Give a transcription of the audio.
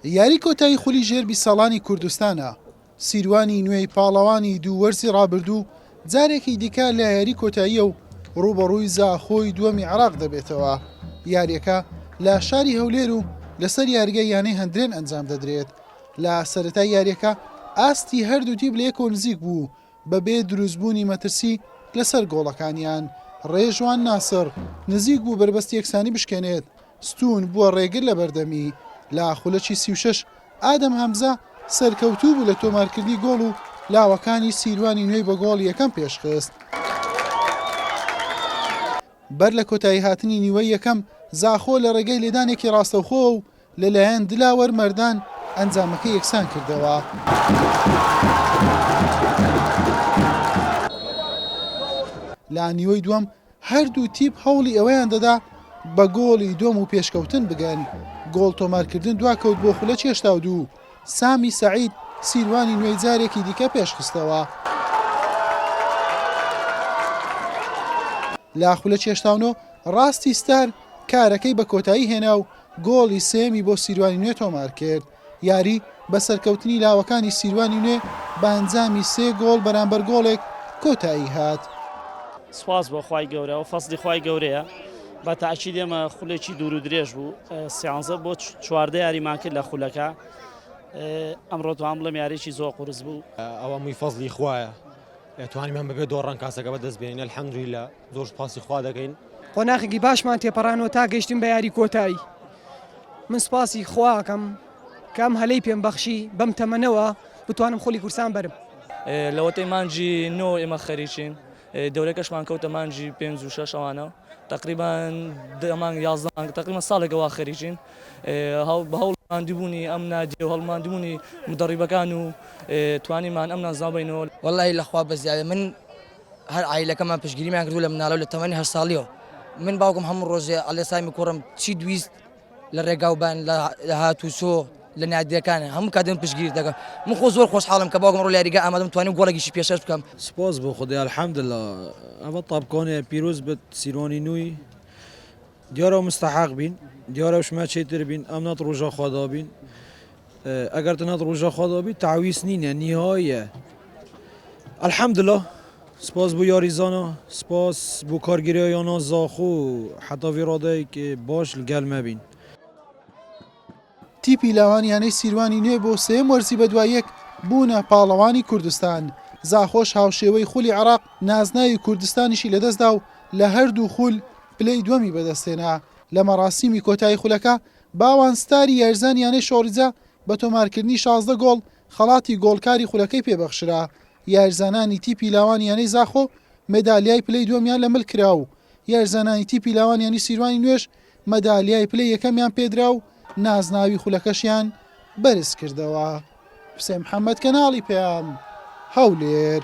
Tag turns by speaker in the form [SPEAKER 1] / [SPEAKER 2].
[SPEAKER 1] یاری کۆتایی خولی ژێر بیست ساڵانی کوردستانە، سیروانی نوێی پاڵەوانی دوو وەرزی رابردوو جارێکی دیکە لە یاری کۆتاییە و رووبەڕووی زاخۆی دووەمی عێراق دەبێتەوە، یارییەکە لە شاری هەولێر و لەسەر یارگەی یانەی هەندرێن ئەنجام دەدرێت، لە سەرەتای یارییەکە ئاستی هەردوو تیپ لە یەکەوە نزیک بوو، بەبێ دروستبوونی مەترسی لەسەر گۆڵەکانیان، رێژوان ناسڕ نزیک بوو بەربەست یەکسانی بشکێنێت، ستوون بووە رێگر لە بەردەمی، لە خولەکی سی و شەش ئادەم هەمزە سەرکەوتوو بوو لە تۆمارکردنی گۆڵ و لاوەکانی سیروانی نوێی بە گۆڵی یەکەم پێشخست. بەر لە کۆتاییهاتنی نیوەی یەکەم، زاخۆ لە رێگەی لێدانێکی راستەوخۆوە و لەلایەن دلاوەر مەردان ئەنجامەکە یەکسان کردەوە. لە نیوەی دووەم هەردوو تیپ هەوڵی ئەوەیان دەدا بە گۆڵی دووەم و پێشکەوتن بگەن، گۆڵ تۆمارکردن دواکەوت بۆ خولە چێشتا و دوو، سامی سەعید سیروانی نوێی جارێکی دیکە پێشخستەوە. لە خولە چێشتاونۆ ڕاستی ستار کارەکەی بە کۆتایی هێنا و گۆڵی سێیەمی بۆ سیروانی نوێ تۆمارکرد، یاری بە سەرکەوتنی لاوەکانی سیروانی نوێ بە ئەنجامی سێ گۆڵ بەرامبەر گۆڵێک کۆتاییهات. سوپاس
[SPEAKER 2] بۆ خوای گەورە ئەوە فەزلی خوای گەورەیە بە تاکید ئێمە خولێکی دوور و درێژ بوو سیانزە بۆ چواردە یاریمان کرد لە خولەکە ئەمڕۆ توان بڵێم یاریی زۆر قورس بوو ئەوە مووی فەزلی
[SPEAKER 3] خوایە توانیمان بەبێ دۆڕان کاسەکە بەدەست بێنە الحمدللە. زۆر سوپاسی خوا دەکەین. قۆناخێکی باشمان
[SPEAKER 4] تێپەڕاندووە تا گەیشتین بە یاری کۆتایی. من سوپاسی خوا ئەکەم کە ئەم هەلەی پێم بەخشی بەم تەمەنەوە بتوانم خولی کوردستان بەرم. لەوەتەی
[SPEAKER 5] مانگی نۆ ئێمە خەریکین، دەورەکەشمان کەوتە مانگی پێنج و شەش ئەوانە. تەقریبەن دە مانگ، یازدە مانگ، تەقریبەن ساڵێکە وا خەریکین. بە هەوڵ و ماندووبوونی ئەم نادیە و هەوڵ و ماندووبوونی مودەڕیبەکان و توانیمان ئەم نازناوە بەینەوە. وەڵلاهی لە خوا بەزیادە.
[SPEAKER 6] من هەر عایلەکەمان پشتگیریمان کردوو لە مناڵی و لە تەمەنی هەشت ساڵیەوە من باوکم هەموو ڕۆژێ ئەلێ سامی کوڕم چیت ویست لە ڕێگاو بان لە هات و چۆ لە نادیەکان هەموو کاتم پشتگیری دەکەم من خۆ زۆر خۆشحاڵم کە باوکم ڕۆ لەیاریگا ئامادەم توانیم گۆڵێکیشی پێشەش بکەم سپاس بۆ خودای
[SPEAKER 7] الحمدللە ئەمە تاپکۆنێ پیرۆز بێت سیرۆنی نوی دیارە مستحق بین دیارە شمە چێتر بین ئەم نات ڕۆژە خوادا بین ئەگەر تەنها ڕوژە خۆدەوە بیت تعویس نینە نیهۆیە الحمدلله سپاس بۆ یاری زانا سپاس بۆ کارگیرە یانا زاخۆ حتا وی ڕادەیەک باش لەگەل مەبین
[SPEAKER 1] تیپی لاوان یانەی سیروانی نوێ بۆ سێم وەرزی بەدوایەک بوونە پاڵەوانی کوردستان زاخۆش هاوشێوەی خولی عراق نازناوی کوردستانیشی لەدەستدا و لە هەردوو خول پلەی دووەمی بەدەستێنا لە مەراسیمی کۆتایی خولەکە باوان ستاری یاریزانی یانەی شۆڕیجە بە تۆمارکردنی شازدە گۆڵ خەڵاتی گۆڵکاری خولەکەی پێبەخشرا، یاریزانانی تیپی لاوان یانەی زاخۆ مەدالیای پلەی دووەمیان لە مل کرا و یاریزانانی تیپی لاوان یانەی سیروانی نوێژ مەدالیای پلەی یەکەمیان پێدرا و نازناوی خولەکەشیان بەرزکردەوە. حوسێن محەمەد کەناڵی پەیام، هەولێر.